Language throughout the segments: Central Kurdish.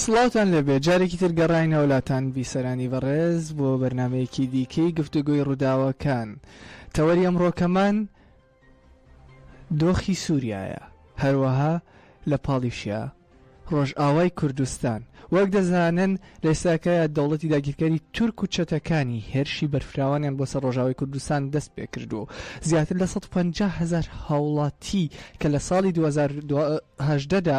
سڵاوتان لێبێت جارێکی تر گەڕاینەوە لاتان بیسەرانی بەڕێز بۆ بەرنمەیەکی دیکەی گفتوگۆی ڕووداوەکان تەوەری ئەمڕۆکەمان دۆخی سووریایە هەروەها لە پاڵیشیا ڕۆژئاوای کوردستان وەک دەزانن لەساکەیە دەوڵەتی داگیرکەری تورک و چەتەکانی هێرشی بەرفراوانیان بۆ سەر ڕۆژاوی کوردستان دەست پێ کردو زیاتر لە 150 هزار هاوڵاتی کە لە ساڵی 2010دا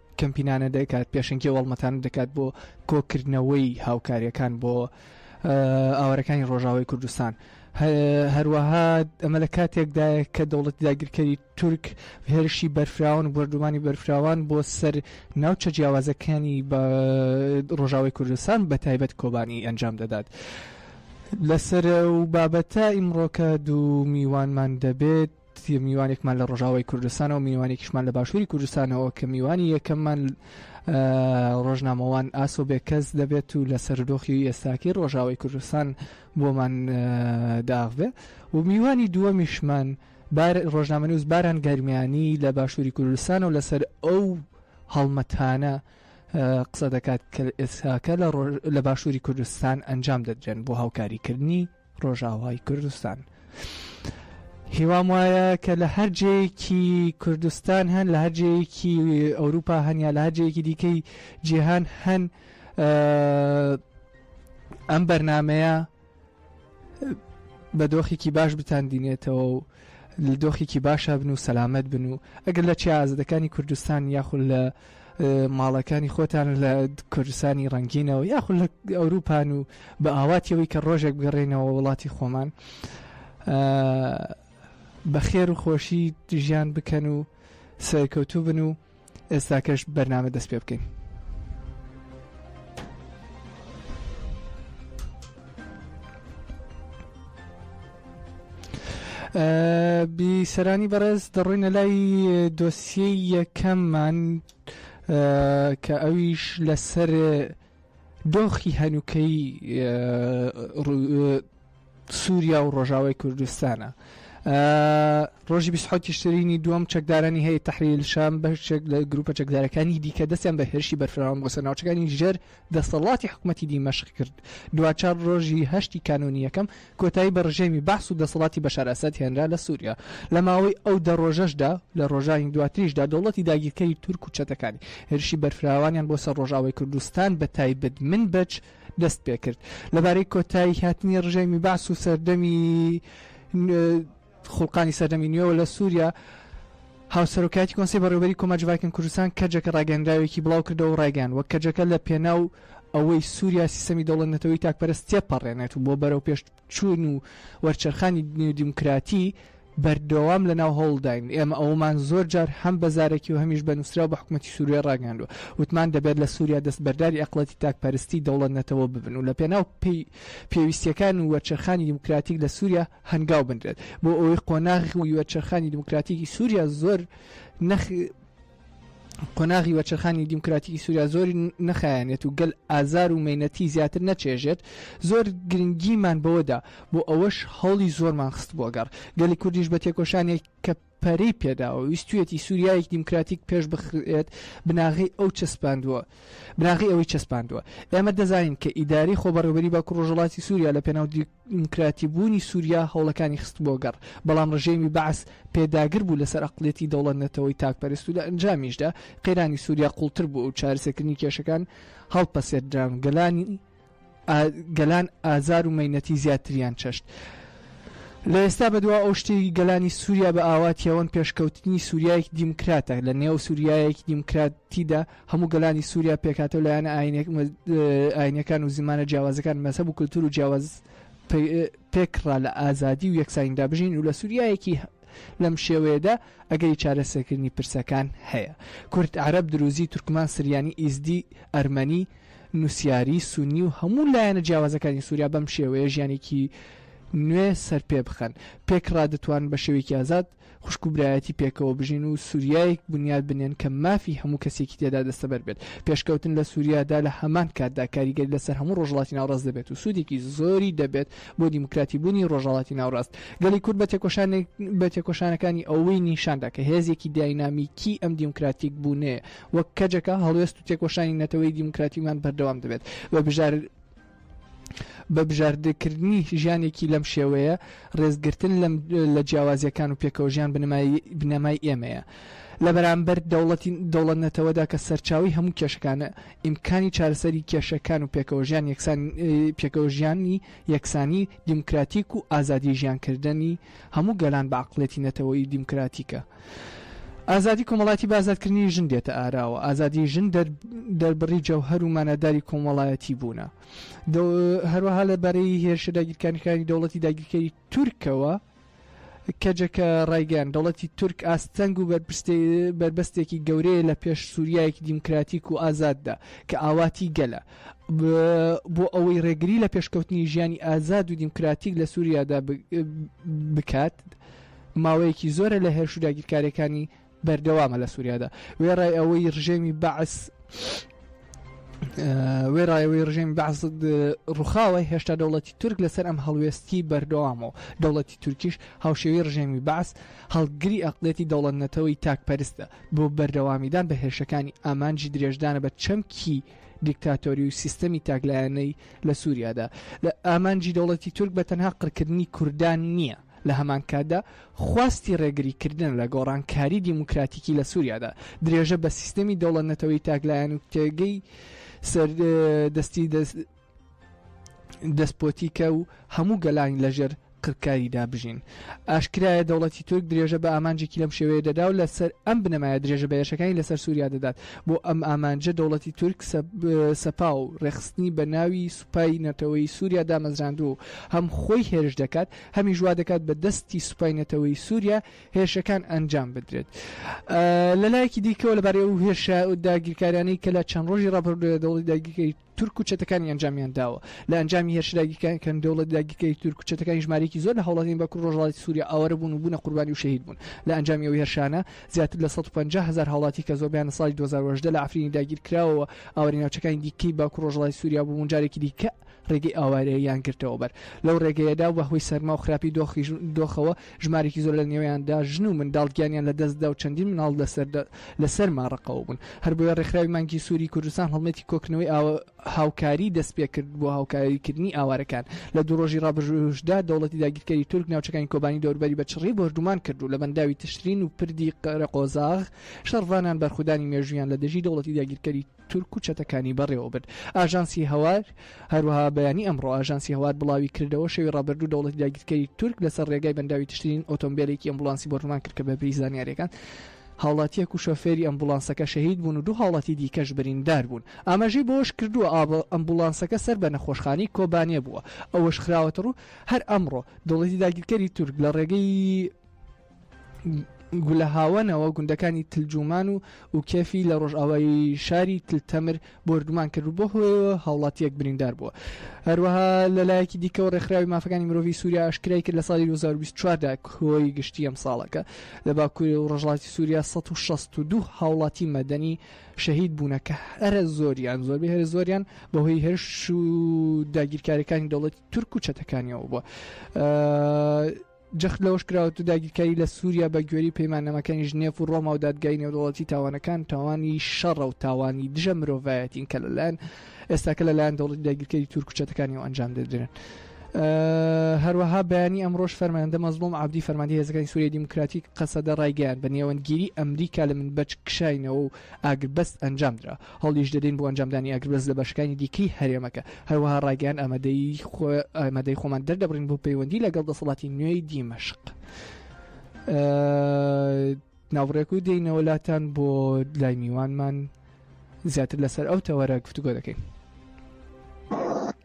کەمپینانە دەکات پێشنگی وەڵمەتان دەکات بۆ کۆکردنەوەی هاوکاریەکان بۆ ئاوارەکانی ڕۆژاوای کوردستان هەروەها ئەمە لە کاتێکدایە کە دەوڵەتی داگیرکەری تورک هێرشی بەرفراون بردومانی بەرفراوان بۆ سەر ناوچە جیاوازەکانی بە ڕۆژاوای کوردستان بە تایبەت کۆبانی ئەنجام دەدات. لەسەر و بابەتە ئیمڕۆکە دوو میوانمان دەبێت تر میوانێکمان لە ڕۆژاوای کوردستانەوە میوانێکیشمان لە باشووری کوردستانەوە کە میوانی یەکەممان ڕۆژنامەوان ئاسۆ بێکەس دەبێت و لە سەردۆخی ئێستاکی ڕۆژاوای کوردستان بۆمان داغبێ و میوانی دووەمیشمان ڕۆژنامەنووس باران گەرمیانی لە باشووری کوردستان و لەسەر ئەو هەڵمەتانە قسە دەکات کە ئێستاکە لە باشووری کوردستان ئەنجام دەدرێن بۆ هاوکاریکردنی ڕۆژاوای کوردستان. هیوام وایە کە لە هەر جێیەکی کوردستان هەن لە هەر جێیەکی ئەوروپا هەن یا لە هەر جێیەکی دیکەی جیهان هەن ئەم بەرنمەیە بە دۆخێکی باش بتاندینێتەوە و دۆخێکی باشە بن و سەلامت بن و ئەگەر لە چیازدەکانی کوردستان یاخود لە ماڵەکانی خۆتان لە کوردستانی ڕەنگینەوە یاخود لە ئەوروپان و بە ئاواتیەوەی کە ڕۆژێک بگەڕێنەوە وڵاتی خۆمان بە خێر و خۆشی ژیان بکەن و سەرکەوتوو بن و ئێستاکەش بەرنامە دەست پێ بکەین بیسەرانی بەڕێز دەڕۆینە لای دۆسیەی یەکەممان کە ئەویش لەسەر دۆخی هەنووکەی سووریا و ڕۆژاوای کوردستانە. ڕۆژی بیسحوتی شترینی دووەم چەکدارانی هەیە تحریل شام بەشێک لە گروپە چەکدارەکانی دیکە دەستیان بە هێرشی بەرفراوان بۆسە ناوچەکانی ژێر دەسەڵاتی حکومەتی دیمەشق کرد. دواجار ڕۆژی هەشتی کانوونی یەکەم کۆتایی بە ڕژێمی بەعس و دەسەڵاتی بەشار ئەسەد هێنرا لە سووریا. لە ماوەی ئەو دە ڕۆژەشدا و لە ڕۆژانی دواتریشدا دەوڵەتی داگیرکەری تورک و چەتەکانی، هێرشی بەرفراوانیان بۆ سەر ڕۆژئاوای کوردستان بە تایبەت منبج دەست پێ کرد. لەبارەی کۆتایی هاتنی ڕژێمی بەعس و سەردەمی، خوڵقانی سەردەمی نوێوە لە سووریا هاوسەرۆکایەتی کۆنسەی بەڕێوەبەری کۆماج ڤایکن کوردستان کەجەکە ڕاگەیەنراوێکی بڵاوکردەوە و ڕایگەیاندوە کەجەکە لە پێناو ئەوەی سووریا سیستەمی دەوڵەت نەتەوەی تاکپەرست تێپەڕێنێت و بۆ بەرەوپێشچوون و وەرچەرخانی نێو دیموکراتی بەردەوام لەناو هەوڵداین ئێمە ئەوەمان زۆر جار هەم بە زارەکی و هەمیش بە نووسراو بە حکومەتی سووریا ڕاگەیاندوە وتمان دەبێت لە سووریا دەستبەرداری ئەقڵەتی تاکپەرستی دەوڵەت نەتەوە ببن و لە پێناو پێویستیەکان و وەرچەرخانی دیموکراتیک لە سووریا هەنگاو بنرێت بۆ ئەوەی قۆناغی وەرچەرخانی دیموکراتیکی سووریا زۆر نەخ قۆناغی وەچەرخانی دیموکراتیکی سووریا زۆری نەخایەنێت و گەل ئازار و مینەتی زیاتر نەچێژێت زۆر گرنگیمان بەوەدا بۆ ئەوەش هەوڵی زۆرمان خست بۆگەڕ گەلی کوردیش بە تێکۆشانێک کە پەرەی پێداوە ویستویەتی سوریایەکی دیموکراتیک پێش بخرێت بناغەی ئەو چەسپاندوە بناغەی ئەوەی چەسپاندوە ئێمە دەزانین کە ئیدارەی خۆبەڕێوبەری باکو ڕۆژەڵاتی سوریا لە پێناو دیموکراتی بوونی سوریا هەوڵەکانی خست بۆ گەڕ بەڵام ڕژێمی بەعس پێداگر بوو لەسەر ئەقڵیەتی دەوڵەت نەتەوەی تاک پەرست و لە ئەنجامیشدا قەیرانی سوریا قوڵتر بوو و چارەسەکردنی کێشەکان هەڵپەسێردران گەلانی گەلان ئازار و مەینەتی زیاتریان چەشت. لە ئێستا بەدوا ئەو شتێکی گەلانی سووریا بە ئاواتیەوەن پێشکەوتنی سووریایەکی دیموکراتە، لە نێو سووریایەکی دیموکراتیدا هەموو گەلانی سووریا پێکهاتە و لایەنە ئاینەکان و زمانە جیاوازەکان مەسەب و کللتور و جیاواز پێکڕا لە ئازادی و یەکسانیدا بژین و لە سووریایەکی لەم شێوەیەدا ئەگەری چارەسەرکردنی پرسەکان هەیە. کورد، عەرەب، دروزی، تورکمان، سریانی، ئیزدی، ئەرمەنی، نوسیاری، سونی و هەموو لایەنە جیاوازەکانی سوریا بەم شێوەیە ژیانێکی نوێ سەرپێ بخەن. پێکڕا دەتوانن بە شێوەیەکی ئازاد خوشک و برایەتی پێکەوە بژین و سوریایەک بنیات بنێن کە مافی هەموو کەسێکی تێدا دەستەبەر بێت. پێشکەوتن لە سوریادا لە هەمان کاتدا کاریگەری لەسەر هەموو ڕۆژهەڵاتی ناوەڕاست دەبێت و سوودێکی زۆری دەبێت بۆ دیموکراتی بوونی ڕۆژهەڵاتی ناوڕاست. گەلی کورد بە تێکۆشانێک بە تێکۆشانەکانی ئەوەی نیشاندا کە هێزێکی داینامیکی ئەم دیموکراتیک بوونەیە وەک کەجەکە هەڵوێست و تێکۆشانی نەتەوەی دیموکراتیمان بەردەوام دەبێت بە بژار بە بژاردەکردنی ژیانێکی لەم شێوەیە ڕێزگرتن لەم لە جیاوازیەکان و پێکەوەژیان بنەمای بنەمای ئێمەیە لە بەرامبەر دەوڵەتی دەوڵەت-نەتەوەدا کە سەرچاوەی هەموو کێشەکانە، ئیمکانی چارەسەری کێشەکان و پێکەوەژیان یەکسان پێکەوەژیانی یەکسانی، دیموکراتیک و ئازادی ژیانکردنی هەموو گەلان بە عەقڵیەتی نەتەوەیی دیموکراتیکە. ئازادی کۆمەڵایەتی بە ئازادکردنی ژن دێتە ئاراوە. ئازادی ژن دەربڕی جەوهەر و ماناداری کۆمەڵایەتی بوونە. هەروەها لە بارەی هێرشە داگیرکاریەکانی دەوڵەتی داگیرکەری تورکەوە، کەجەکە ڕایگەیاند، دەوڵەتی تورک ئاستەنگ و بەربەستێکی گەورەیە لە پێش سوریایەکی دیموکراتیک و ئازاددا کە ئاواتی گەلە بۆ ئەوەی ڕێگری لە پێشکەوتنی ژیانی ئازاد و دیموکراتیک لە سوریادا بکات ماوەیەکی زۆرە لە هێرش و داگیرکاریەکانی بەردەوامە لە سووریادا وێڕای ئەوەی ڕژێمی بەعس وێڕایەوەی ڕژێمی بەعس ڕوخاوە هێشتا دەوڵەتی تورک لەسەر ئەم هەڵوێستی بەردەوامەوە دەوڵەتی تورکیش هاوشێوی ڕژێمی بەعس هەڵگری ئەقلێتی دەوڵەت نەتەوەی تاکپەرستە بۆ بەردەوامیدان بە هێرشەکانی ئامانجی درێژدانە بە چەمکی دیکتاتۆری و سیستەمی تاکلایەنەی لە سووریادا لە ئامانجی دەوڵەتی تورک بە تەنها قڕکردنی کوردان نییە لە هەمانکاتدا خواستی ڕێگریکردنە لە گۆڕانکاری دیموکراتیکی لە سوریادا، درێژە بە سیستەمی دەوڵەت-نەتەوەی تاکلایەن و تێگەی سەر دەستی دەسپۆتیکە و هەموو گەلان لە ژێر قرکاریدا بژین. ئاشکرایە دەوڵەتی تورک درێژە بە ئامانجێکی لەم شێوەیە دەدا و لە سەر ئەم بنەمایە درێژە بە هێرشەکانی لە سەر سوریا دەدات. بۆ ئەم ئامانجە دەوڵەتی تورک سەپا و ڕێکخستنی بە ناوی سوپای نەتەوەیی سوریا دامەزراندووە و هەم خۆی هێرش دەکات هەمیش وا دەکات بە دەستی سوپای نەتەوەیی سوریا هێرشەکان ئەنجام بدرێت لە لایەکی دیکەوە لەبارەی ئەو هێرشە و داگیرکاریانەی کە لە چەند ڕۆژی ڕابردووە دەوڵەتی داگیرکەری تورک و چەتەکانی ئەنجامیان داوە لە ئەنجامی هێرش داگیرکەر کەن دەوڵەت داگیرکەری تورک و چەتەکانی ژمارەیەکی زۆر لە هاوڵاتیانی باکوور ڕۆژهەڵاتی سوریا ئاوارە بوون و بوونە قوربانی و شەهید بوون لە ئەنجامی ئەو هێرشانە زیاتر لە سەد و پەنجا هەزار هاوڵاتی کە زۆربەیان لە ساڵی دوو هەزار و هەژدە لە عەفرینی داگیرکراوەوە ئاوارەی ناوچەکانی دیکەی باکو ڕۆژهەڵاتی سوریا بوون و جارێکی دیکە ڕێگەی ئاوارەییان گرتەوەبەر لەو ڕێگەیەدا و بەهۆی سەرما و خراپی دۆخی ژن و دۆخەوە ژمارێکی زۆر لە نێوەیاندا ژن و منداڵ گیانیان لە دەستدا و چەندین منداڵ لە سەرما ڕەقەوە بوون هەربۆیە ڕێکخراوی مانگی سوری کوردستان هەڵمەتی کۆکردنەوەی ئاوە هاوکاری دەستپێکرد بۆ هاوکاریکردنی ئاوارەکان. لە دوو ڕۆژی ڕابردووشدا دەوڵەتی داگیرکەری تورک ناوچەکانی کۆبانی و دەوروبەری بە چڕی بۆردومان کرد و لە بەنداوی تشرین و پردی قەرەقۆزاغ شەڕڤانان بەرخودانی مێژوویان لە دژی دەوڵەتی داگیرکەری تورک و چەتەکانی بەڕێوەبرد. ئاژانسی هەوار هەروەها بەیانی ئەمڕۆ ئاژانسی هەوار بڵاویکردەوە، شەوی ڕابردوو دەوڵەتی داگیرکەری تورک لەسەر ڕێگای بەنداوی تشرین ئۆتۆمبێلێکی ئەمبوڵانسی بۆردومان کرد کە بەپێی زانیارییەکان هاوڵاتییەک و شۆفێری ئەمبوڵانسەکە شەهید بوون و دوو هاوڵاتی دیکەش بریندار بوون. ئاماژەی بەوەشکردووە، ئەمبوڵانسەکە سەر بە نەخۆشخانەی کۆبانێ بووە. ئەوەشخراوەتەڕوو، هەر ئەمڕۆ دەوڵەتی داگیرکەری تورک لە ڕێگەی گولەهاوەنەوە گوندەکانی تل جومان و ئوکێفی لە ڕۆژئاوای شاری تل تەمر بۆردومان کرد و بەو هۆیەوە هاوڵاتییەک بریندار بووە. هەروەها لە لایەکی دیکەوە ڕێکخراوی مافەکانی مرۆڤی سووریا ئاشکرای کرد لە ساڵی 2024 دا کۆی گشتی ئەمساڵەکە لە باکوور و ڕۆژهەڵاتی سووریا 162 هاوڵاتی مەدەنی شەهید بوونە کە هەرە زۆریان زۆربەی هەرە زۆریان بەهۆی هێرش و داگیرکاریەکانی دەوڵەتی تورک و چەتەکانیەوە بووە. جەخت لەوەش کراوەتە داگیرکاری لە سووریا بە گوێرەی پەیماننامەکانی ژنێف و ڕۆما و دادگای نێودەوڵەتی تاوانەکان تاوانی شەڕە و تاوانی دژە مرۆڤایەتین کە لەلایەن ئێستاکە لەلایەن دەوڵەتی داگیرکەری تورک و چەتەکانی و ئەنجام دەدرێن. هەروەها بەیانی ئەمڕۆش فەرماندە مەزڵوم عەبدی فەرماندی هێزەکانی سووریای دیموکراتیک قەسەدە ڕایگەیاند بە نێوەندگیری ئەمریکا لە منبەج کشاینەوە و ئاگربەست ئەنجام درا هەوڵیش دەدەین بۆ ئەنجامدانی ئاگربەست لە بەشەکانی دیکەی هەرێمەکە، هەروەها ڕایگەیاند ئامادەیی خۆمان دەردەبڕین بۆ پەیوەندی لەگەڵ دەسەڵاتی نوێی دیمەشق. ناوبڕێک و دێینەوە لاتان بۆ لای میوانمان زیاتر لەسەر ئەو تەوەرە گفتوگۆ دەکەین.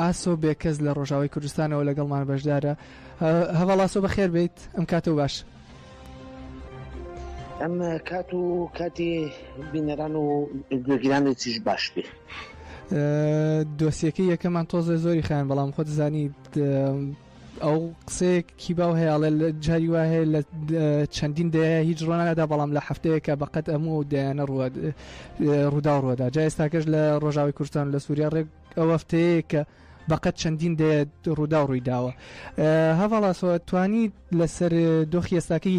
ئاسۆ بێکەس لە ڕۆژاوای کوردستانەوە لەگەڵمان بەشدارە هەواڵاسۆ بەخێر بیت ئەم کاتە و باش. ئەم کات و کاتی بینەران و گوێگرانی چیش باش بێ. دۆسیەکە یەکەمان تۆزە زۆری خیان بەڵام خۆت زانی ئەو قسەیەک کی باو هەیەڵێ لە جاری وا هەیە لە چەندین دەیە هیچ ڕۆنادا بەڵام لە هەفتەیەکە بەقەت ئەموو دەیانە ڕوە ڕوودا ڕوەدا جا ئێستاکەش لە ڕۆژاوی کوردستان لە سووریا ڕێک ئەو هەفتەیە کە بەقەت چەندین دێ ڕوودا و ڕوویداوە هەواڵاسەوە توانی لەسەر دۆخی ئێستاکەی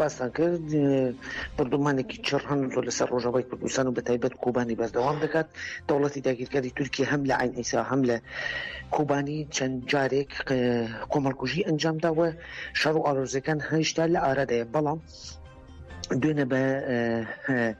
باسان کرد بۆردومانێکی چڕن زۆر لەسەر ڕۆژەوای کوردستان و بەتایبەت کوبانی بەردەوام دەکات دەوڵەتی داگیرکاری تورکی هەم لە عین ئیسا هەم لە کوبانی چەند جارێک کۆمەڵکوژی ئەنجامداوە شەڕ و ئارۆزەکان هەیشتا لە ئارادەیە بەڵام دوێنە بە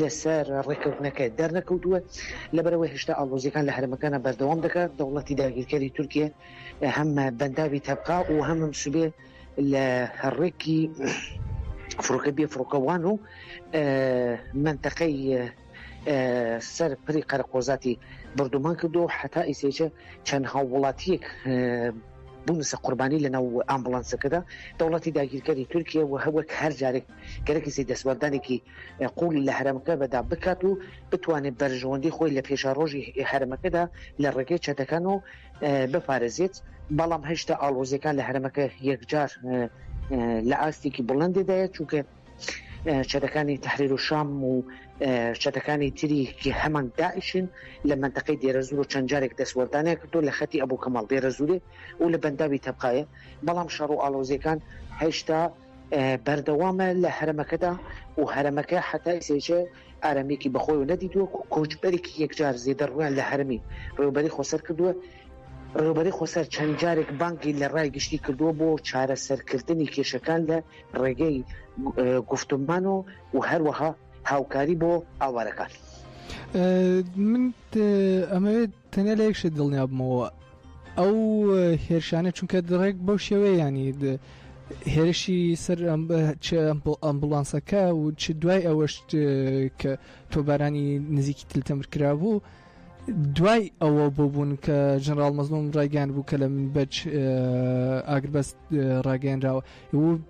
لەسەر ڕێککەوتنەکە دەرنەکەوتووە، لەبەرئەوەی هێشتا ئاڵۆزییەکان لە هەرێمەکەدا بەردەوام دەکات، دەوڵەتی داگیرکەری تورکیە هەم بەنداوی تەبقا و هەم سبێ لە ڕێکی فڕۆکە بێفڕۆکەوان و مەنتەقەی سەر پری قەرەقۆزاتی بردومان کردو حتا ئیسێچە چەند هاووڵاتیەک بوونسە قوربانی لە ناو ئامبڵانسەکەدا دەوڵەتی داگیرکەری تورکیە و هەوەک هەر جارێک گەرەکیسی دەستوەردانێکی قوڵی لە هەرمەکە بەدا بکات و بتوانێت بەرژەوەندی خۆی لە پێشە ڕۆژی هەرمەکەدا لە ڕێگەی چەتەکان و بپارێزێت بەڵام هەشتا ئاڵۆزیەکان لە هەرمەکە یەکجار لە ئاستێکی بڵندێدایە چونکە چەتەکانی تحریر و شام و چەتەکانی تریکی هەمان داعشن لە منتەقەی دێرەزور و چەند جارێک دەستوەردانێک کردو لە خەتی ئەبوو کەمەڵ دێرەزورێ و لە بەنداوی تەبقاە بەڵام شەڕ و ئالۆزیەکان هەشتا بەردەوامە لە هەرەمەکەدا و هەرەمەکە هەتا ئیسەیچە ئارامیەکی بەخۆیەوە نەدیتووە و کۆچبەرێکی یەکجار زێدە ڕوویان لە هەرەمی ڕێوبەری خۆسەر کردووە. ڕێوبەری خۆسەر چەند جارێک بانگی لە ڕای گشتی کردووە بۆ چارەسەرکردنی کێشەکان لە ڕێگەی گوفتمان و و هەروەها هاوکاری بۆ ئاوارەکان. من ئەمەوێت تەنیا لە یەک شت دڵنیا بمەوە ئەو هێرشانە چونکە دڕێک بەو شێوەیانی هێرشی سەر ئەمبولانسەکە و چ دوای ئەوەش کە تۆبارانی نزیکی تلتەمر کرا بوو دوای ئەوە بۆ بوون کە ژەنراڵ مەزلوم ڕایگەیان بوو کە لە بەچ ئاگربەست ڕاگەیەنراوە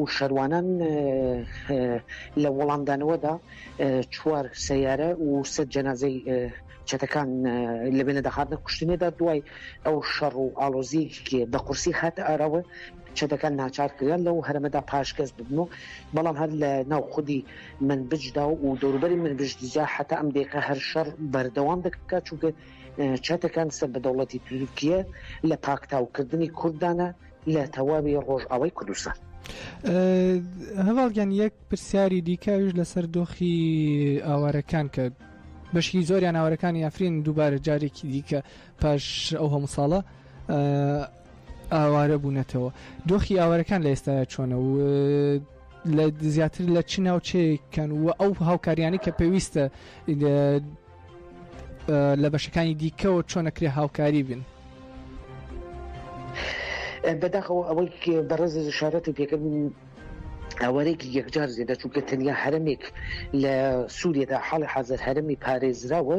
و شەروانان لە وەڵامدانەوەدا چوار سەیارە و سە جەنازەی چەتەکان لە بێنە دەهاتنە کوشتنێدا دوای ئەو شەڕ و ئالۆزیکی بە قورسی هات ئاراوە چەتەکان ناچار کران لەو هەرمەدا پاشکەس ببن و بەڵام هەر لە ناو خودی من بجدا و دەوروبەری من بشتجا حتا ئەم دێکە هەر شەڕ بەردەوام دەکات چونکە چەتەکان سەر بە دەوڵەتی تورکیە لە پاکتاوکردنی کوردانە لە تەواوی ڕۆژئاوای کوردستان. هەواڵگیان یەک پرسیاری دیکەویش لەسەر دۆخی ئاوارەکان کە بەشی زۆریان ئاوارەکانی ئەفرین دووبارە جارێکی دیکە پاش ئەو هەموو ساڵە ئاوارە بوونەتەوە دۆخی ئاوارەکان لە ئێستا چۆنە و لە زیاتر لە چ ناوچەیەکەن و ئەو هاوکاریانی کە پێویستە لە بەشەکانی دیکەەوە چۆنە کرێ هاوکاری بن بەداخەوە ئەوەی بەڕێز شارەتی پێکرد ئەوەرێکی یەکجار زێدە چونکە تەنیا هەرمێک لە سووریەدا حاڵی حەزر هەرمی پارێزراوە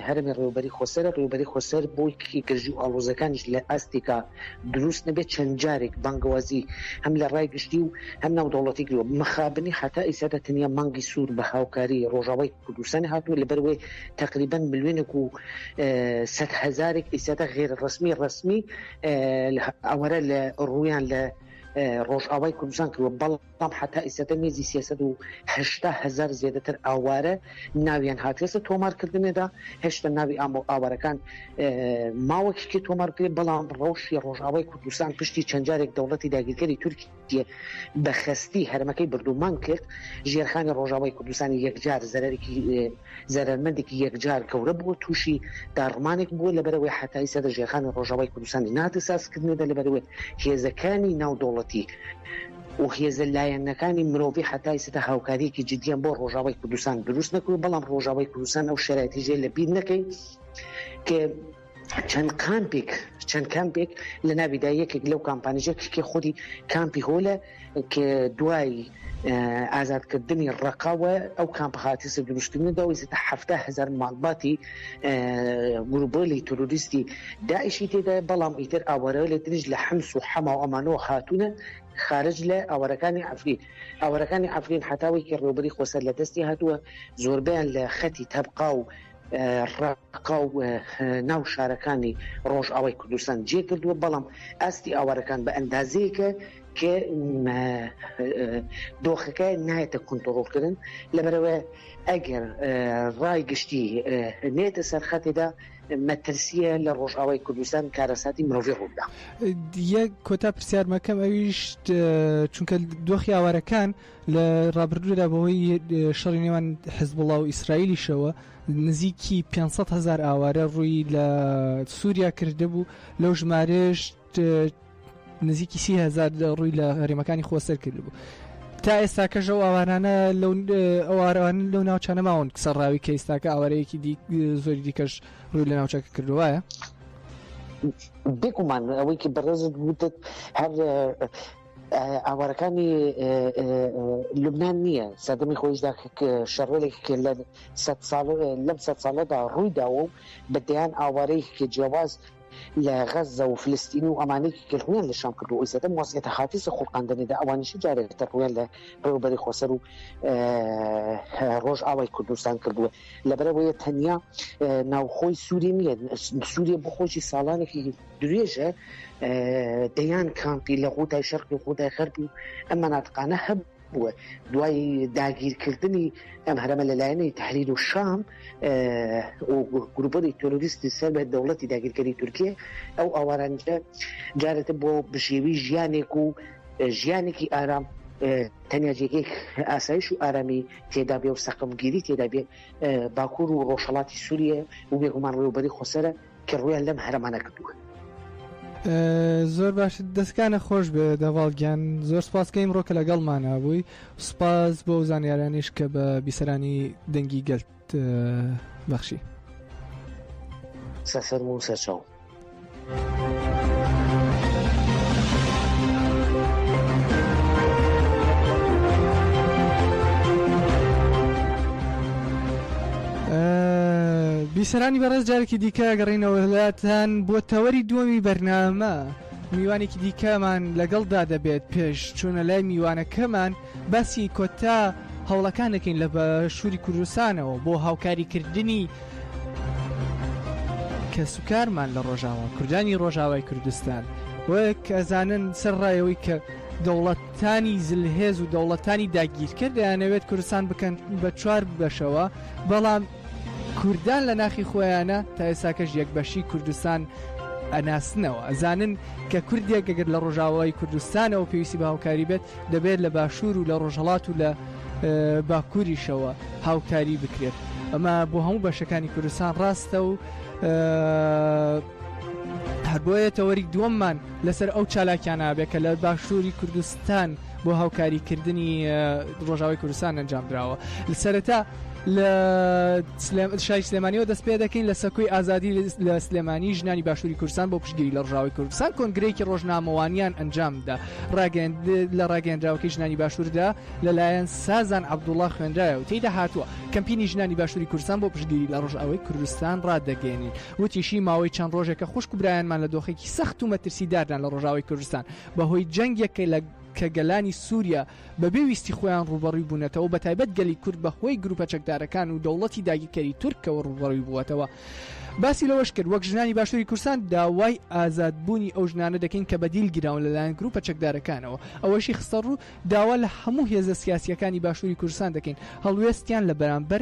هەرمی ڕێوبەری خۆسەر ڕێوبەری خۆسەر بۆی گەژی و ئاڵۆزەکانیش لە ئاستێکا دروست نەبێت چەند جارێک بانگوازی هەم لە ڕای گشتی و هەم ناو دەوڵەتی گرۆ مەخابنی حتا ئیسادا تەنیا مانگی سوور بە هاوکاری ڕۆژاوای کوردستانی هاتووە لەبەرەوەی تەقریبەن ملیۆنێک و سەد هزارێک ئیسادە غێر ڕسمی ڕسمی ئەوەرە لە ڕویان لە ڕۆژئاوای کوردستان کردوە بەڵام حتا ئیسەتە نێزی 3هشتا هزار زیاتر ئاوارە ناویان هاتێسە تۆمارکردنێدا هێشتا ناوی ئامۆ ئاوارەکان ماوەکیکی تۆمارکرێت بەڵام ڕەوشی ڕۆژئاوای کوردستان پشتی چەندجارێک دەوڵەتی داگیرکەری تورکی بە خەستی هەرمەکەی بردومانگ کرد، ژێرخانی ڕۆژاوای کوردستانی یەکجار زەرەرێکی زەرەرمەندێکی یەکجار گەورە بووە، تووشی داڕمانێک بووە، لەبەرئەوەی حەتایی سەدر ژێرخانی ڕۆژاوای کوردستانی نەهاتە سازکردنەوە، لەبەرئەوەی هێزەکانی ناودەوڵەتی و هێزە لایەنەکانی مرۆڤی حەتایی سەدە هاوکارییەکی جدییان بۆ ڕۆژاوای کوردستان دروست نەکردووە، بەڵام ڕۆژاوای کوردستان ئەو شەرایتەی ژێ لەبیر نەکەین کە چەند کامپێک چەند کامپێک لە ناویدا یەکێک لەو کامپانیژە کشکی خودی کامپی هۆلە کە دوای ئازادکردنی ڕقاوە ئەو کامپهاتی سە دروشتنی داویستا هەفتا هزار ماڵباتی گروبۆلی تروریستی داعشی تێدا بەڵام ئیتر ئاوارەوە لە تریش لە حمس و حەما و ئەمانەوە هاتوونە خارج لە ئاوارەکانی ئەفرین ئاوارەکانی ئەفرین حتاوێکی ڕێوبەری خۆسەر لە دەستی هاتووە زۆربیان لە خەتی تەبقا و ڕق پکاو ناو شارەکانی ڕۆژئاوای کوردستان جێکردووە، بەڵام ئاستی ئاوارەکان بە ئەندازەیەکە کە دۆخەکە نایەتە کونتڕۆڵکردن، لەبەرئەوە ئەگەر ڕای گشتی نێتە سەر خەتێدا مەترسییە لە ڕۆژئاوای کوردستان کارەساتی مرۆڤی ڕووبدا. یەک کۆتا پرسیارمەکەم ئەویش چونکە دۆخی ئاوارەکان لە ڕابردوودا بەهۆی شەڕی نێوان حزبوڵا و ئیسرائیلیشەوە نزیکی پێنج سەد هەزار ئاوارە ڕووی لە سووریا کردبوو، لەو ژمارەیەش نزیکی سی هەزار ڕووی لە هەرێمەکانی خۆسەر کردبوو. تا ئێستاکەش ئەو ئاوارانە لەو ئەو ئاوارەوان لەو ناوچانە ماون سەرڕاوی کە ئێستاکە ئاوارەیەکی دی زۆری دیکەش ڕووی لە ناوچەکە کردو وایە؟ بێگومان ئەوەی کە بەڕێزت وتت هەر ئاوارەکانی لوبناان نییە سەدەمی خۆیشدا شەڕێک لە لەم سە ساڵەدا ڕوویداوە و بە دەیان ئاوارەی کە جیاواز لە غەزە و فلستین و ئەمانێکی کردویان لە شام کردو ئەو سەدەم وەسیێتە خاتیس و خوڵقاندنێدا ئەوانیش جارێک تەڕویان لە ڕێوبەری خۆسەر و ڕۆژ ئاوای کوردستان کردووە لەبەرەوەیە تەنیا ناوخۆی سووری نیە سووریە بۆ خۆشی ساڵانێکی درێژە دەیان کامپی لە غوتای شەرقی و غوتای غەربی و ئەم مەناتقانە هەب بووە دوای داگیرکردنی ئەم هەرەمە لەلایەنەی تحریر و شام گروپەری تۆرۆریستی سەر بە دەوڵەتی داگیرکەری تورکیە ئەو ئاوارانجە جارێتە بۆ بژێوی ژیانێک و ژیانێکی ئارام تەنیا جێگەی ئاسایش و ئارامی تێدا بێ و سەقمگیری تێدا بێ باکوور و ڕۆژهڵاتی سووریە و بێگومان ڕێوبەری خۆسەرە کە ڕوویان لەم هەرەمانە کردووە. زۆر باش دەستکانە خۆش بێ دەڤاڵ گیان زۆر سپاسکە ئیمڕۆ کە لەگەڵ مانابووی سپاس بۆ زانیارانیش کە بە بیسەرانی دەنگی گەلت بەخشی سەفەر و سەرچاو بیسەرانی بەڕێز جارێکی دیکە گەڕینەوەلاتان بۆ تەوەری دووەمی بەرنامە میوانێکی دیکەمان لەگەڵدا دەبێت پێش چوونە لای میوانەکەمان باسی کۆتا هەوڵەکان دەکەین لە بەشووری کوردستانەوە بۆ هاوکاریکردنی کەسوکارمان لە ڕۆژاوە کوردانی ڕۆژاوای کوردستان وەک ئەزانن سەر ڕایەوەی کە دەوڵەت تانی زلهێز و دەوڵەتانی داگیرکەر دەیانەوێت کوردستان بکەن بە چوار بەشەوە بەڵام کوردان لە ناخی خۆیانە تا ئێساکەش یەک بەشی کوردستان ئەناسنەوە ئەزانن کە کوردێک گەگەر لە ڕۆژاوای کوردستانەوە پێویستی بە هاوکاری بێت دەبێت لە باشوور و لە ڕۆژهڵات و لە باکووریشەوە هاوکاری بکرێت ئەمە بۆ هەموو بەشەکانی کوردستان ڕاستە و هەر بۆیە تەوەری دووەممان لەسەر ئەو چالاکیانە ئەبێت کە لە باشووری کوردستان بۆ هاوکاریکردنی ڕۆژاوی کوردستان ئەنجام دراوە سەرەتا لە شای سلێمانیەوە دەست پێ دەکەین لە سەکوی ئازادی لە سلێمانی ژنانی باشووری کوردستان بۆ پشگیری لە ڕژاوی کوردستان کۆنگرێکی ڕۆژنامەوانیان ئەنجامدا ڕاگەن لە ڕاگەندراوەکەی ژنانی باشووردا لەلایەن سازان عبدوڵا خوێنرایە و تێدا هاتووە کەمپینی ژنانی باشووری کوردستان بۆ پشگیری لە ڕژاوی کوردستان ڕادەگەێنین وتیشی، ماوەی چەند ڕۆژێکە خوشک و برایانمان لە دۆخێکی سەخت و مەترسیداردان لە ڕۆژاوای کوردستان، بەهۆی جەنگێک کە گەلانی سوریا بەبێ ویستی خۆیان ڕووبەڕووی بوونەتەوە، بەتایبەت گەلی کورد بەهۆی گروپە چەکدارەکان و دەوڵەتی داگیرکەری تورکەوە ڕووبەڕووی بووەتەوە. باسی لەوەش کرد، وەک ژنانی باشوری کوردستان داوای ئازادبوونی ئەو ژنانە دەکەین کە بەدیل گیراون لەلایەن گروپە چەکدارەکانەوە. ئەوەشی خستەڕوو، داوا لە هەموو هێزە سیاسییەکانی باشوری کوردستان دەکەین هەڵوێستیان لە بەرامبەر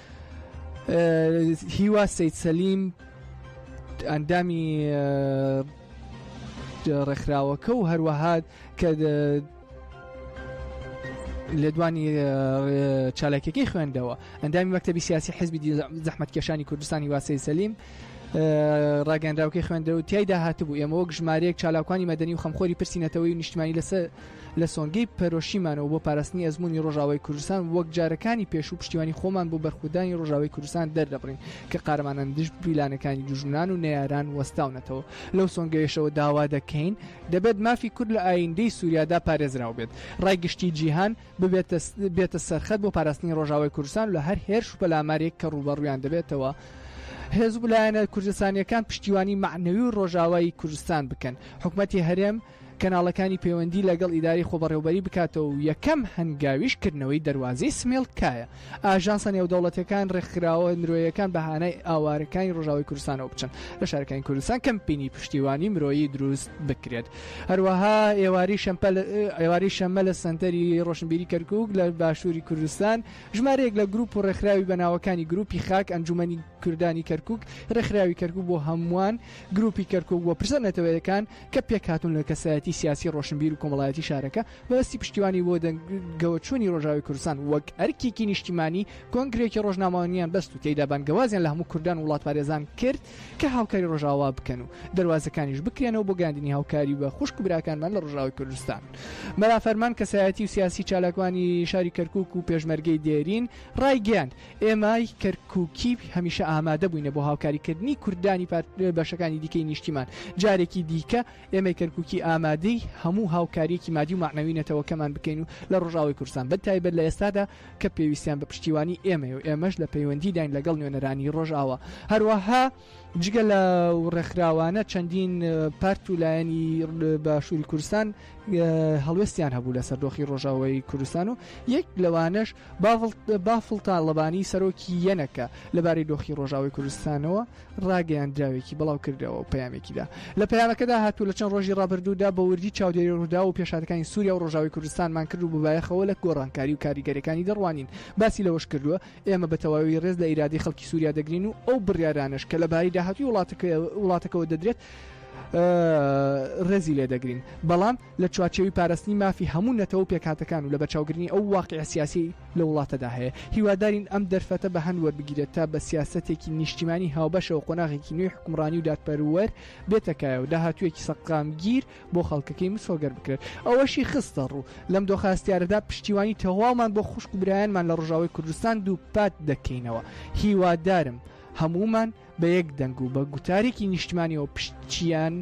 هیوا سید سەلیم ئەندامی ڕێکخراوەکە و هەروەهات کە لێدوانی چالاکیەکەی خوێندەوە ئەندامی مەکتتەبی سیاسی حزبی زەحمت کێشانی کوردستانی واسی سەلیم ڕاگەنراوکەی خوێندە و تایدا هاتبوو ئێمە وەک ژمارەیەک چالاکوانی مەدەنی و خەمخۆری پرسیینەتەوەی نیشتمانی لەسەر لە سۆنگەی پەرۆشیمانەوە بۆ پاراستنی ئەزموونی ڕۆژاوای کوردستان وەک جارەکانی پێشوو پشتیوانی خۆمان بۆ بەرخودانی ڕۆژاوای کوردستان دەردەبڕین کە قارەمانان دژ پیلانەکانی دوژمنان و نەیاران وەستاونەتەوە لەو سۆنگەیەشەوە داوا دەکەین دەبێت مافی کورد لە ئاییندەی سوریادا پارێزراو بێت ڕای گشتی جیهان ببێتە بێتە سەرخەت بۆ پاراستنی ڕۆژاوای کوردستان و لە هەر هێرش و پەلامارێک کە ڕووبەڕوویان دەبێتەوە هێزو لایەنە کوردستانیەکان پشتیوانی مەعنەوی و ڕۆژاوای کوردستان بکەن حکومەتی هەرێم کەناڵەکانی پەیوەندی لەگەڵ ئیدارەی خۆبەڕێوبەری بکاتەوە و یەکەم هەنگاویش کردنەوەی دەروازەی سمێڵ کایە ئاژانسە نێودەوڵەتیەکان ڕێکخراوە مرۆیەکان بە هانای ئاوارەکانی ڕۆژاوای کوردستانەوە بچن لە شارەکانی کوردستان کەمپینی پشتیوانی مرۆیی دروست بکرێت هەروەها ئێواری شەمپە ئێواری شەمە لە سەنتەری ڕۆشنبیری کەرکک لە باشووری کوردستان ژمارەیەک لە گروپ و ڕێکخراوی بەناوەکانی گروپی خاک ئەنجومەنی کوردانی کەرکک ڕێکخراوی کەرکک بۆ هەمووان گروپی کەرکک بۆ پرسە نەتەوەیەکان کە پێکهاتوون لە کەسایەتی سیاسی ڕۆشنبیر و کۆمەڵایەتی شارەکە، بەدەستی پشتیوانی بۆ دەنگەوەچوونی ڕۆژاوای کوردستان وەک ئەرکێکی نیشتیمانی، کۆنگرەیەکی ڕۆژنامەوانیان بەست و تێیدا بانگەوازیان لە هەموو کوردان و وڵاتپارێزان کرد کە هاوکاری ڕۆژاوا بکەن و دەروازەکانیش بکرێنەوە بۆ گەیاندنی هاوکاری بە خوشک و براکانمان لە ڕۆژاوای کوردستان. مەلا فەرمان، کەسایەتی و سیاسی چالاکوانی شاری کەرکووک و پێشمەرگەی دێرین، ڕایگەیاند، ئێمای کەرکووکی هەمیشە ئامادە بووینە بۆ هاوکاری کردنی کوردانی بەشەکانی دیکەی نیشتیمان. جارێکی دیکە ئێمەی کەرکووکی ئامادەی هەموو هاوکارییەکی مادی و مەعنەوی نەتەوەکەمان بکەین و لە ڕۆژئاوای کوردستان بە تایبەت لە ئێستادا کە پێویستیان بە پشتیوانی ئێمەیە و ئێمەش لە پەیوەندیداین لەگەڵ نوێنەرانی ڕۆژئاوا. هەروەها. جگە لەو ڕێکخراوانە چەندین پارت و لایەنی باشووری کوردستان هەڵوێستیان هەبوو لەسەر دۆخی ڕۆژاوای کوردستان و یەک لەوانەش بافڵ تاڵەبانی سەرۆکی یەنەکە لەبارەی دۆخی ڕۆژاوی کوردستانەوە ڕاگەیان دراوێکی بڵاو کردەوە و پەیامێکیدا لە پەیامەکەدا هاتوو لە چەند ڕۆژی ڕابردوودا بە وردی چاودێری ڕوودا و پێشاتەکانی سووریا و ڕۆژاوی کوردستانمان کرد و ببایەخەوە لە گۆڕانکاری و کاریگەرەکانی دەڕوانین باسی لەوەش کردووە ئێمە بە تەواوی ڕێز لە ئیرادەی خەڵکی سووریا دەگرین و ئەو بڕیارانەش کە لە باری داهاتووی وڵاتەکەەوە دەدرێت ڕێزی لێ دەگرین بەڵام لە چوارچەوی پاراستنی مافی هەموو نەتەوە و پێکاتەکان و لە بەچاوگرنی ئەو واقع سیاسی لە وڵاتەدا هەیە هیوادارین ئەم دەرفەتە بە هەند وەربگیرێت تا بە سیاستێکی نیشتیمانی هاوبەشەوە قۆناغێکی نوێی حکومڕانی و دادپەروەر بێتەکایە و داهاتوویەکی سەقامگیر بۆ خەڵکەکەی مسۆگەر بکرێت ئەوەشی خستە ڕوو لەم دۆخە هەستیارەدا پشتیوانی تەواومان بۆ خوشک و برایانمان لە ڕژاوی کوردستان دووپات دەکەینەوە هیوادارم هەمومان بە یەک دەنگ و بە گوتارێکی نیشتمانیەوە پشتیان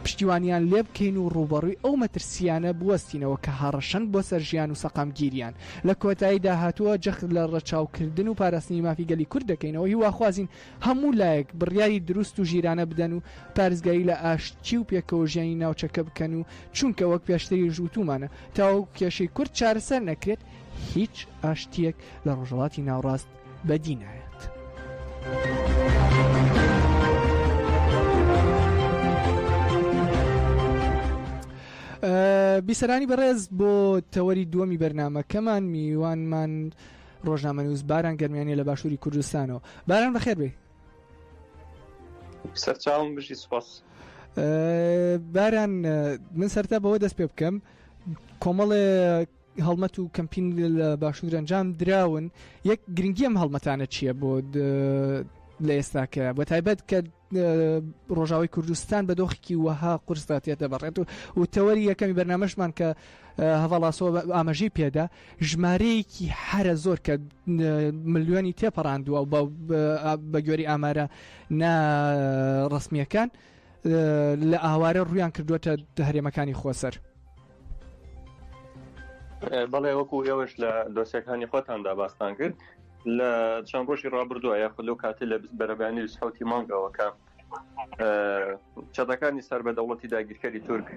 پشتیوانیان لێ بکەین و ڕوبەڕووی ئەو مەترسیانە بوەستینەوە کە هەڕەشەن بۆ سەر ژیان و سەقامگیریان لە کۆتایی داهاتووە جەخت لە ڕەچاوکردن و پاراستنی مافی گەلی کورد دەکەینەوە هیواخوازین هەموو لایەک بڕیاری دروست و ژیرانە بدەن و پارێزگاری لە ئاشتی و پێکەوەژیانی ناوچەکە بکەن و چونکە وەک پێشتریش وتوومانە تاوەکو کێشەی کورد چارەسەر نەکرێت هیچ ئاشتییەک لە ڕۆژهەڵاتی ناوڕاست بەدی نایەت. بیسەرانی بەڕێز بۆ تەوەری دووەمی بەرنمەکەمان میوانمان ڕۆژنامەنووس باران گەرمیانیە لە باشووری کوردستانەوە باران بەخێر بێ سەرچاوم بژی سپاس باران من سەرتا بەوە دەست پێ بکەم کۆمەڵێ هەڵمەت و کەمپین لە باشوور ئەنجام دراون یەک گرنگی ئەم هەڵمەتانە چییە بۆ لە ئێستاکە بە تایبەت کە ڕۆژاوی کوردستان بە دۆخێکی وەها قرسدا تێدەبڕێت و و تەوەری یەکەمی بەرنمەشمان کە هەواڵاسۆ ئاماژەی پێدا ژمارەیەکی حرە زۆر کە ملیۆنی تێپەڕاندووە و بە گوێری ئامارە نا ڕسمیەکان لە ئاوارە ڕویان کردوەتە هەرێمەکانی خۆسەر. بەڵێ وەکو ئێوەش لە دۆسیەکانی خۆتاندا باستان کرد لە چەند ڕۆژی ڕابردووە یاخود لەو کاتە لە بەرەبانی سحوتی مانگەوەکە چەتەکانی سەر بە دەوڵەتی داگیرکەری تورک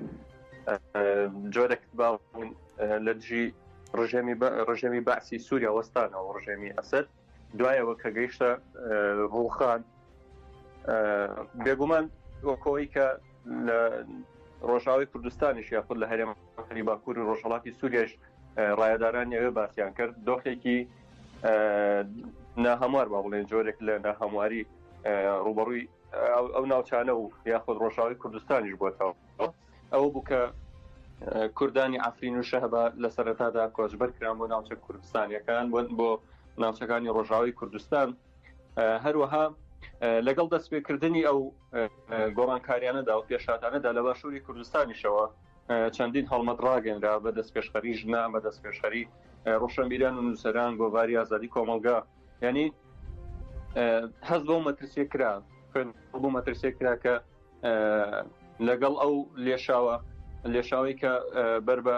جۆرەک باون لە دژی ڕژێمی ڕژێمی بەعسی سووریا وەستانەوە ڕژێمی ئەسد دوایەوە کە گەیشتە ڕوخان بێگومان وەکەوەی کە لە ڕۆژاوی کوردستانیش یاخود لە هەرێم خەری باکوور و ڕۆژهڵاتی سووریش ڕایداران ئەوێ باسییان کرد دۆخێکی ناهەموار با بڵێن جۆرێک لە ناهەمواری ڕوبەڕووی ئەو ناوچانە و یاخود ڕۆژاوی کوردستانیش بۆتەوە ئەو بوو کە کوردانی ئەفرین و شەهبا لە سەرەتادا کۆچبەر کران بۆ ناوچە کوردستانیەکان بۆ بۆ ناوچەکانی ڕۆژاوی کوردستان هەروەها لەگەڵ دەستپێکردنی ئەو گۆڕانکاریانەدا و پێشاتانەدا لە باشووری کوردستانیشەوە چەندین هەڵمەت ڕاگەنرا بە دەست پێشخەری ژنا بە دەست پێشخەری ڕۆشنبیران و نووسەران گۆڤاری ئازادی کۆمەلگا ینی هەز بۆ مەترسیە کرا بۆ مەترسیە کرا کە لەگەڵ ئەو لێشاوە لێشاوی کە بەر بە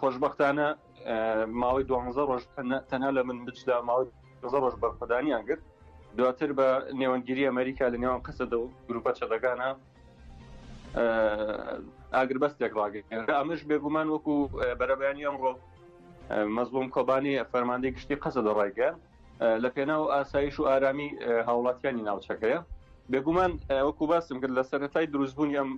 خۆشببختانە ماوەی دوانزە ڕۆژ تەنها لە من بچدا ماوەی زە ڕۆژ بەرخەدانیان گرت دواتر بە نێوەندگیری ئەمریکا لە نێوان قەسەدە و گروپە چەدەگانە ئاگربەستێک ڕاگەێن ئەمەش بێگومان وەکو بەرەبیانی ئەمڕۆ مەزلوم کۆبانی فەرماندەی گشتی قەسە دەڕایگە لە پێناو ئاسایش و ئارامی هاوڵاتیانی ناوچەکەیە بێگومان وەکو باسم کرد لە سەرەتای دروستبوونی ئەم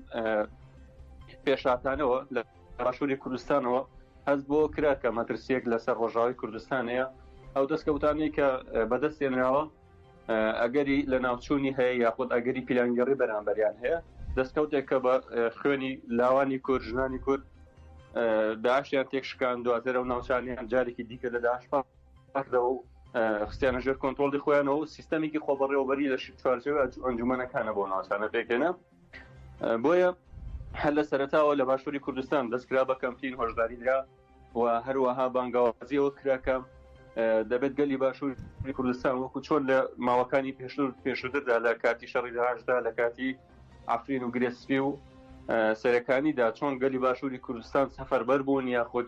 پێشاتانەوە لە باشوری کوردستانەوە هەست بۆ کرا کە مەترسیەک لەسەر ڕۆژاوی کوردستان هەیە ئەو دەستکەوتانەی کە بەدەست هێنراوە ئەگەری لە ناوچوونی هەیە یاخود ئەگەری پیلانگەڕی بەرامبەریان هەیە دەستکەوتێک کە بە خوێنی لاوانی کورد ژنانی کورد داشیان تێکشکان دواتر و ناوچانیان جارێکی دیکە لە داشپاردەوە و خستیانە ژێر کۆنتۆڵی خۆیانەوە سیستەمێکی خۆبڕێوەبەری لە چوارچەوە ئەنجومەنەکانە بۆ ناوچانە پێکێنە بۆیە هەر لە سەرتاوە لە باشووری کوردستان دەستکرا بە کەمپین هۆشداری درا و هەروەها بانگاوازیەوە کراکە دەبێت گەلی باشووری کوردستان وەکو چۆن لە ماوەکانی پێشتر پێشتردا لە کاتی شەڕی داهشدا لە کاتی ئافرین و گرێسپی و سەرەکانیدا چۆن گەلی باشووری کوردستان سەفەربەر بوون یاخود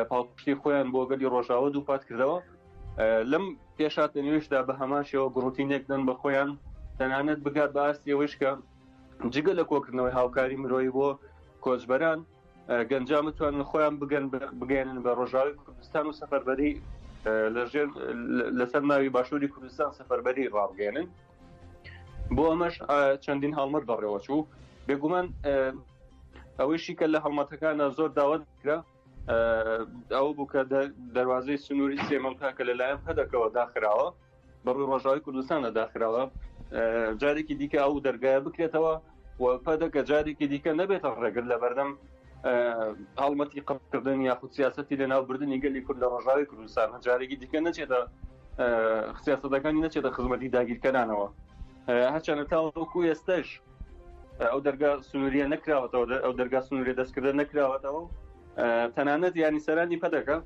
پاڵپشتی خۆیان بۆ گەلی ڕۆژاوە دووپات کردەوە لەم پێشاتە نوێشدا بە هەمان شێوە گڕوتی نەکدەن بە خۆیان تەنانەت بگات بە ئاستیەوەشکە جگە لە کۆکردنەوەی هاوکاری مرۆی بۆ کۆچبەران گەنجان بتوانن خۆیان بگەن بگەێنن بە ڕۆژاوی کوردستان و سەفەربەری لەژێر لەسەر ناوی باشووری کوردستان سەفەربەری ڕابگەێنن بۆ ئەمەش چەندین هەڵمەت بەڕێوەچوو بێگومان ئەوەیشی کە لە هەڵمەتەکانە زۆر داوەتکرا ئەو بوو کە دەواازەی سنووری سێمەڵکە کە لەلایەن هەدەکەەوە داخراوە بەڕووی ڕۆژاوی کوردستانە داخراوە جارێکی دیکە ئەو دەرگایە بکرێتەوە و پەدەکە جارێکی دیکە نەبێتە ڕێگر لە بەردەم هەڵمەتی قڕکردن یاخود سیاستی لە ناوبردننی گەلی کورد لە ڕژاوی کوردستان جارێکی دیکە نەچێتە سیاستەکانی نەچێتە خزمەتی داگیرکەرانەوە هەچەنە تاوەکو ئێستش ئەو دەرگا سنووریە نەکراوەتەوە ئەو دەرگا سنووری دەستکردە نەکراوەتەوە تەنانەت ینی سەرانی پەدەکە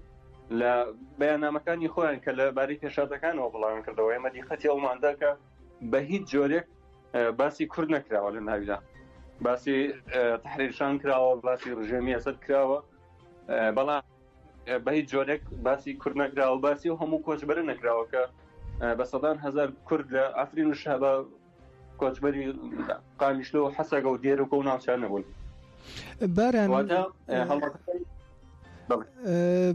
لە بەیانامەکانی خۆیان کە لە باری پێشاتەکانەوە بڵاوان کردەوە ئێمە دیقەتی ئەوماندا کە بە هیچ جۆرێک باسی کورد نەکراوە لە ناویدا باسی تحریرشان کراوە باسی ڕژێمی ئەسد کراوە بەڵام بە هیچ جۆرێک باسی کورد نەکراوە باسی و هەموو کۆچبەرە نەکراوەکە بە سەدان هزار کورد لە ئەفرین و شەبە کۆچبەری قامیشلۆ و حەسەگە و دێرەکە و ناوچان نەبوون باران واتە هەڵبەتەکەی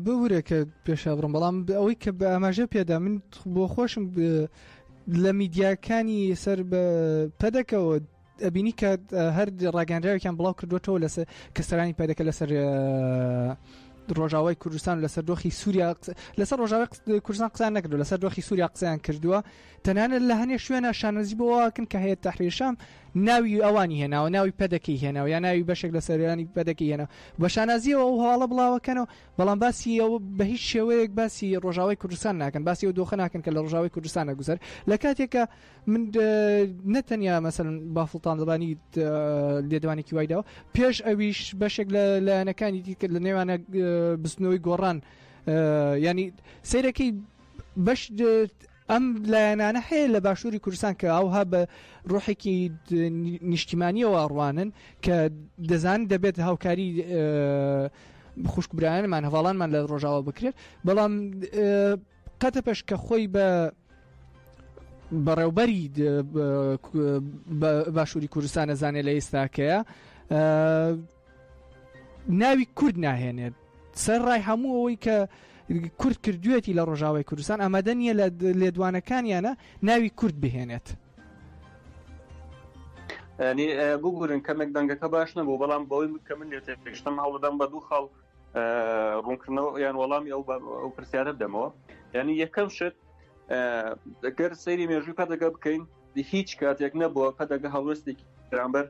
بورە کە پێشا بڕم بەڵام ئەوەی کە بە ئاماژە پێدا من بۆ خۆشم لە میدیاکانی سەر بە پەدەکەەوە ئەبینی کە هەر ڕاگەنراوێکیان بڵاو کردوێتەوە لەسەر کە سەرانی پەدەکە لەسەر ڕۆژاوای کوردستان لەسەر دۆخی سووریا لەسەر ڕۆژاوی کوردستان قسان نەکردو لەسەر دۆخی سووریا قسەیان کردووە تەنانەت لە هەنێ شوێنا شانازی بەوە ئەکەن کە هەیەت تەحریر شام ناوی ئەوانی هێناوە ناوی پەدەکەی هێناوە یا ناوی بەشێک لە سەروانی پەدەکەی هێنا بە شانازیەوە ئەو هەواڵە بڵاوەکەنەوە بەڵام باسی ئەو بە هیچ شێوەیەک باسی ڕۆژاوای کوردستان ناکەن باسی و دۆخە ناکەن کە لە ڕژاوی کوردستانە گوزەر لە کاتێکە من نەتەنیا مەسەن بافڵتان دەبانی لێدوانێکی وایداوە پێش ئەویش بەشێک لە لایەنەکانی دیکرد لە نێوانە بستنەوەی گۆڕان ینی سیرەکەی بەش ئەم لایەنانە هەیە لە باشووری کوردستان کە ئەوها بە ڕۆحێکی نیشتیمانیەوە ئەڕوانن کە دەزان دەبێت هاوکاری خوشک برایانمان هەواڵانمان لە ڕۆژاوە بکرێت بەڵام قەتە پێش کە خۆی بە بەڕێوبەری باشووری کوردستانە زانێ لە ئێستاکەیە ناوی کورد ناهێنێت سەر ڕای هەموو ئەوەی کە کورد کردوێتی لە ڕۆژاوای کوردستان ئامادە نیە لە لێدوانەکانیانە ناوی کورد بهێنێت ینی بگورن کەمێک دەنگەکە باش نەبوو بەڵام بەوەی کە من لێ تێشتم هەوڵدەم بە دوو خاڵ ڕوونکردنەوە یان وەڵامی ئەو ئەو پرسیارە بدەمەوە ینی یەکەم شت گەر سەیری مێژووی پەدەگە بکەین هیچ کاتێک نەبووە پەدەگە هەڵوێستێکی بەرامبەر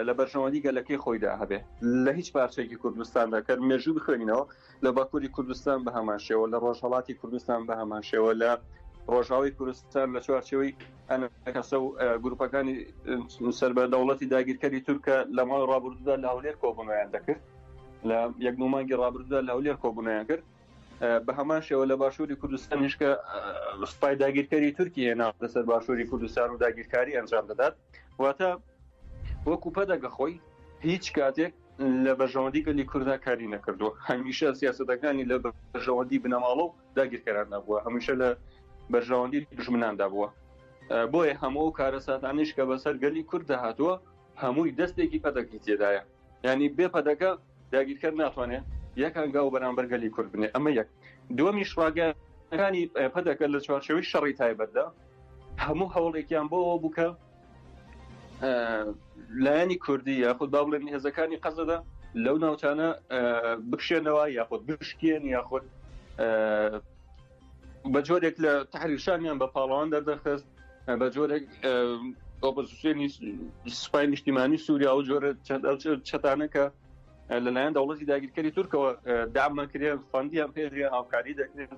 لە بەرژەوەندی گەلەکەی خۆیدا هەبێ لە هیچ پارچێکی کوردستاندا کە مێژوو بخوێنینەوە لە باکووری کوردستان بە هەمان شێوە لە ڕۆژهڵاتی کوردستان بە هەمان شێوە لە ڕۆژاوی کوردستان لە چوارچەوەی ئەنەکەسە و گروپەکانی سەر بە دەوڵەتی داگیرکەری تورکە لە ماڵ ڕابردوودا لە هەولێر کۆبنیان دەکرد لە یەک نومانگی ڕابردوودا لە هەولێر کۆبنیان کرد بە هەمان شێوە لە باشووری کوردستانیش کە سوپای داگیرکەری تورکی هێنا لەسەر باشووری کوردستان و داگیرکاری ئەنجام دەدات واتە وەکو پەدەگە خۆی هیچ کاتێک لە بەژەوەندی گەلی کورددا کاری نەکردووە هەمیشە سیاستەکانی لە بەژەوەندی بنەماڵە و داگیرکەراندا بووە هەمیشە لە بەژەوەندی دژمناندا بووە بۆیە هەموو و کارەساتانیش کە بەسەر گەلی کورد دەهاتووە هەمووی دەستێکی پەدەکی تێدایە ینی بێ پەدەکە داگیرکەر ناتوانێت یەک هەنگاو بەرامبەر گەلی کورد بنێ ئەمە یەک دومیش ڕاگەکانی پەدەکە لە چوارچەوەی شەڕی تایبەتدا هەموو هەوڵێکیان بۆەوە بووکە لایەنی کوردی یاخود با بڵێن هێزەکانی قەزەدا لەو ناوچانە بکشێنەوە یاخود بشکێن یاخود بە جۆرێک لە تحریشانیان بە پاڵەوان دەردەخست بە جۆرێک ئۆپۆزیسیۆنی سوپای نیشتیمانی سووریا و جۆرە چەتانەکە لەلایەن دەوڵەتی داگیرکەری تورکەوە دامەکرێن فەندیان پێدرێن هاوکاری دەکرێن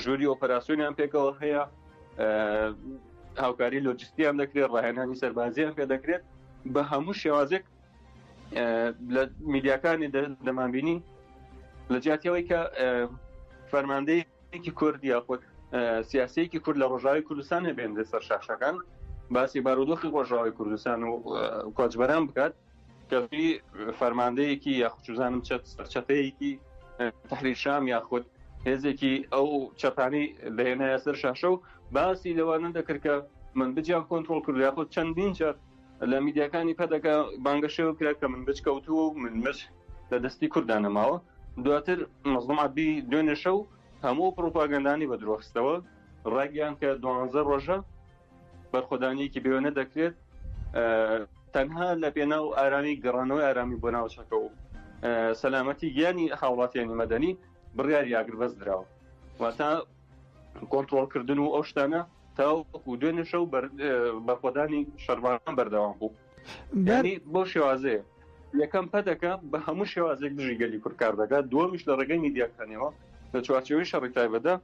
ژووری ئۆپەراسسیۆنیان پێکەوە هەیە هاوکاری لۆجستیان دەکرێت ڕاهێنانی سەربازیان پێ دەکرێت بە هەموو شێوازێک لە میدیاکانی دەمانبینی لە جیاتەوەی کە فەرماندەیەکی کورد یاخود سیاسەیەکی کورد لە ڕۆژاوی کوردستان نەبێن لە سەر شاشەکان باسی بارودۆخی ڕۆژاوی کوردستان و کۆچبەران بکات کەفی فەرماندەیەکی یاخچوزانم چەت سەرچەتەیەکی تحریشام یاخود هێزێکی ئەو چەپانی لەێنایە سەر شاشە و باسی لەوانە دەکرد کە من بجیان کۆنتترۆل کرد یاخود چەندین جار لە میدیاکانی پەدەکە بانگەشەوە کرا کە من بچ کەوتووە و من مچ لە دەستی کورددا نەماوە دواتر مەزڵم عبدی دوێنێشە و هەموو پرۆپاگەندانی بە درۆخستەوە ڕاگەیان کە دوانزە ڕۆژە بەرخۆدانیەکی بێوێنە دەکرێت تەنها لە پێنا و ئارامی گەڕانەوەی ئارامی بۆ ناوچەکە و سەلامەتی گیانی هاوڵاتیانی مەدەنی بڕیاری ئاگربەست درراوە واتە کۆنتترۆلکردن و ئەو شتانە تاوەکو دوێنێ شەو بەرخۆدانی شەربانان بەردەوام بوو بۆ شێوازەیە یەکەم پەدەکە بە هەموو شێوازێک دژی گەلی کوردکار دەکات دووەمیش لە ڕێگەی میدیاکانەوە لە چوارچەوەی شەڕی تایبەتدا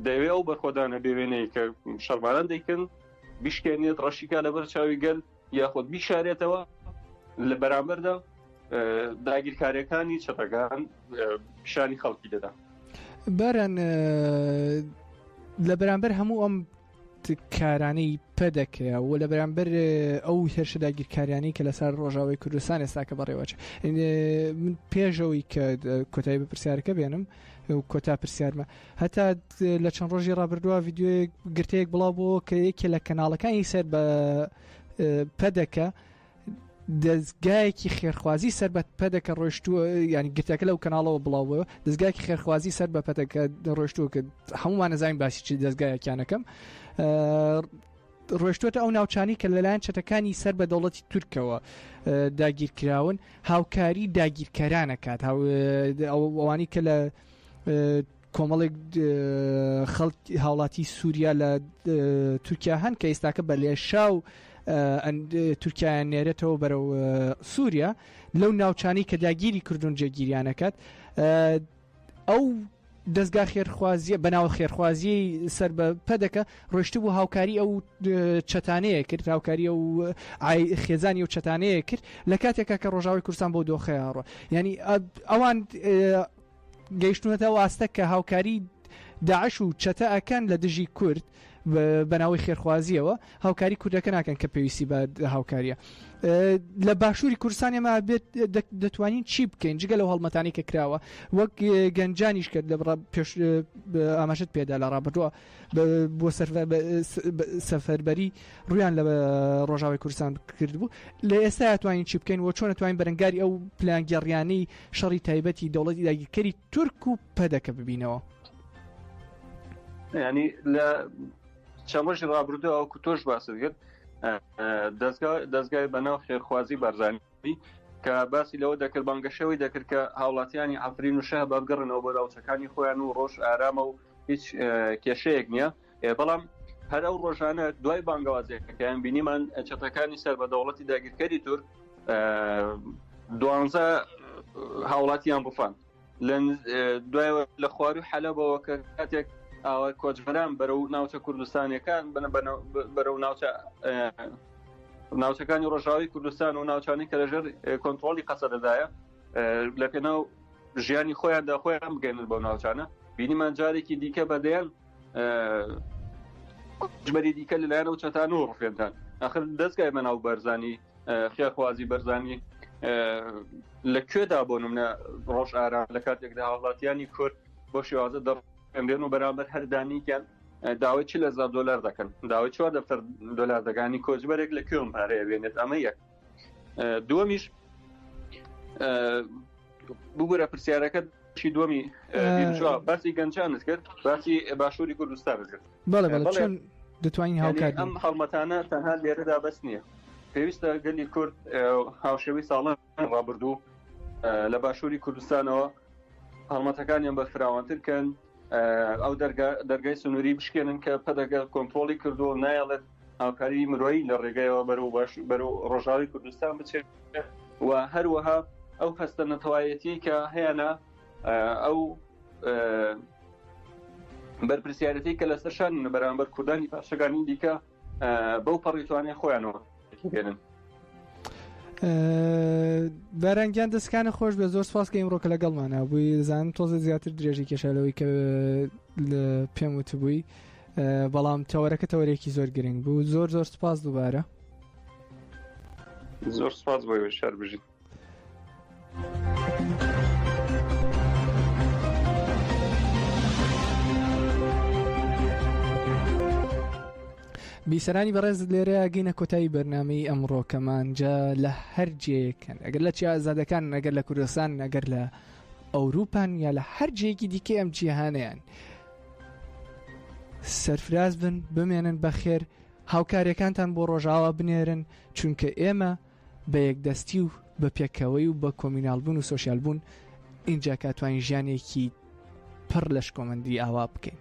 دەوێ ئەو بەرخۆدانە بێوێنەی کە شەرمانان دەیکەن بشکێنێت ڕەشیکا لەبەر چاوی گەل یاخود بیشارێتەوە لە بەرامبەردا داگیرکاریەکانی چەپەکان پیشانی خەڵکی دەدا باران لە بەرامبەر هەموو ئەم کارانەی پەدەکە و لە بەرامبەر ئەو هێرشە داگیرکاریانی کە لەسەر ڕۆژاوی کوردستان ئێستاکە بەڕێوەچ پێشەوەی کە کۆتایی بە پرسیارەکە بێنم کۆتا پرسیارمە هەتا لە چەند ڕۆژی ڕابردووە یددیوی گرتەیەک بڵاو بۆ کە یەکێ لە کەناڵەکانی سەر بە پەدەکە دەستگایەکی خێرخوازی سەر بە پەدەکە ڕۆشتووە ینی گرتەکە لەو کەناڵەوە بڵاوەوە دەستگایکی خێرخوازی سەر بە پەتەکە ڕۆشتووە کە هەمووان نەزانین باسی چی دەستگایەکیانەکەم ڕۆشتووەتە ئەو ناوچانەی کە لەلایەن چەتەکانی سەر بە دەوڵەتی تورکەوە داگیرکراون هاوکاری داگیرکەرانەکات ئەوانی کە لە کۆمەڵێک خەڵک هاوڵاتی سووریا لە تورکیا هەن کە ئێستاکە بە لێشا و تورکیایان نێرێتەوە بەرەو سووریا لەو ناوچانی کە داگیری کردوون جێگیریانەکەت ئەو دەزگا خێرخوازیە بەناو خێرخوازیەی سەر بە پەدەکە ڕۆشت بوو هاوکاری ئەو چەتانەیە کرد هاوکاری ئەو خێزانی و چەتانەیە کرد لە کاتێکا کە ڕۆژاوی کورسان بۆ دۆخەیاڕۆ ینی ئەوان گەیشتونەتە واستە کە هاوکاری داعش و چەتە ئەکەن لە دژی کورد بەناوی خێرخوازیەوە هاوکاری کوردەکە ناکەن کە پێویستی بە هاوکاریە لە باشووری کوردستان ئێمە بێت دەتوانین چی بکەین جگە لەو هەڵمەتانی کە کراوە وەک گەنجانیش کرد لە پێش ئاماژت پێدا لە ڕابردووە بۆ سەفەربەری ڕویان لە ڕۆژاوی کوردستان کردبوو لە ئێستا توانین چی بکەین و چۆن توانین بەرەنگاری ئەو پلانگەڕیانی شەڕی تایبەتی دەوڵەتی داگیرکەری تورک و پەدەکە ببینەوە ینی لە چەند ڕۆژی ڕابردوو ئەوکو تۆش باست کرد دەستگای بەناو خێرخوازی بارزانانی کە باسی لەوە دەکرد بانگەشەوەی دەکرد کە هاوڵاتیانی ئەفرین و شە بابگەڕنەوە بۆ ناوچەکانی خۆیان و ڕۆژ ئارامە و هیچ کێشەیەک نییە بەڵام هەر ئەو ڕۆژانە دوای بانگەوازەکەیان بینیمان چەتەکانی سەر بە دەوڵەتی داگیرکەری تور دوانزە هاوڵاتیان بفان دوای لە خواروی حەلەبەوە کە کاتێک ئاوای کۆچبەران بەرەو ناوچە کوردستانەکان بنە بەرەو ناوچە ناوچەکانی ڕۆژاوی کوردستان و ناوچانی کە لەژێر کۆنتترۆلی قەسە دەدایە لە پێناو ژیانی خۆیان داخۆیان بگەنن بۆ ناوچانە بینیمان جارێکی دیکە بەدەیان ژمەری دیکە لەلایەنەوە چەتان و ڕفێنتان ئەخر دەستگای بەناو بەرزانی خێرخوازی بەرزانی لە کوێدا بۆ منە ڕۆژ ئارا لە کاتێکدا هاوڵاتیانی کورد بۆ شێوازە دەڕێنرێن و بەرامبەر هەردانیکیان داوای چ لە زار دلار دەکەن داوای چوار دەفتەر دلار دەگانی کۆچبەرێک لە کوێم پارەیە بێنێت ئەمە یەک دووەمیش بگورە پرسیارەکە بەشی دووەمی بیرجوا باسی گەنجانت کرد باسی باشووری کوردستانت کرد بەڵێ بەڵێ چۆن دەتوانین یعنی هاوکات ئەم هەڵمەتانە تەنها لێرەدا بەس نییە پێویستە گەلی کورد ئەو هاوشێوەی ساڵان ڕابردوو ئە، لە باشووری کوردستانەوە هەڵمەتەکانیان بە فراوانتر کەن ئە، ئەو دەرگا- دەرگای سنووری بشکێنن کە پەدەگە کۆنتترۆلی کردو نایەڵێت هاوکاریی مرۆیی لە ڕێگەیەوە بەرەو باش بەرەو ڕۆژاوی کوردستان بچێت و هەروەها ئەو هەستە نەتەوایەتی کە هەیەە ئەو بەرپسیارەتی کە لەسەر شان بەرامبەر کوردانی پاشەکانی دیکە بەو پەڕیتوانێ خۆیانەوە بێنن بارانگیان دەستکانە خۆش بە زۆر سپاس کە ئیمڕۆکە لەگەڵمانە بووی زان تۆزە زیاتر درێژی کێشالەوەی کە پێم وتبووی بەڵام تەوەرەکە تەوەرێکی زۆر گرنگ بوو زۆر زۆر سپاس دووبارە زۆر سپاس بۆی وشار بژیت بیسەرانی بەڕێز لێرە گەینە کۆتایی بەرنمەی ئەمڕۆکەمان جا لە هەر جێکەن ئەگەر لە چیا ئازادەکان ئەگەر لە کوردستان ئەگەر لە ئەوروپان یا لە هەر جێکی دیکە ئەم جیهانیان. سەرفراز بن بمێنن بەخێر هاوکاریەکانتان بۆ ڕۆژاوا بنێرن چونکە ئێمە بە یەکدەستی و بە پێکەوەی و بە کۆمینالبوون و سوسیال بوون اینجا کاتوانین ژیانێکی پڕ لە شکۆمەندی ئاوا بکەین.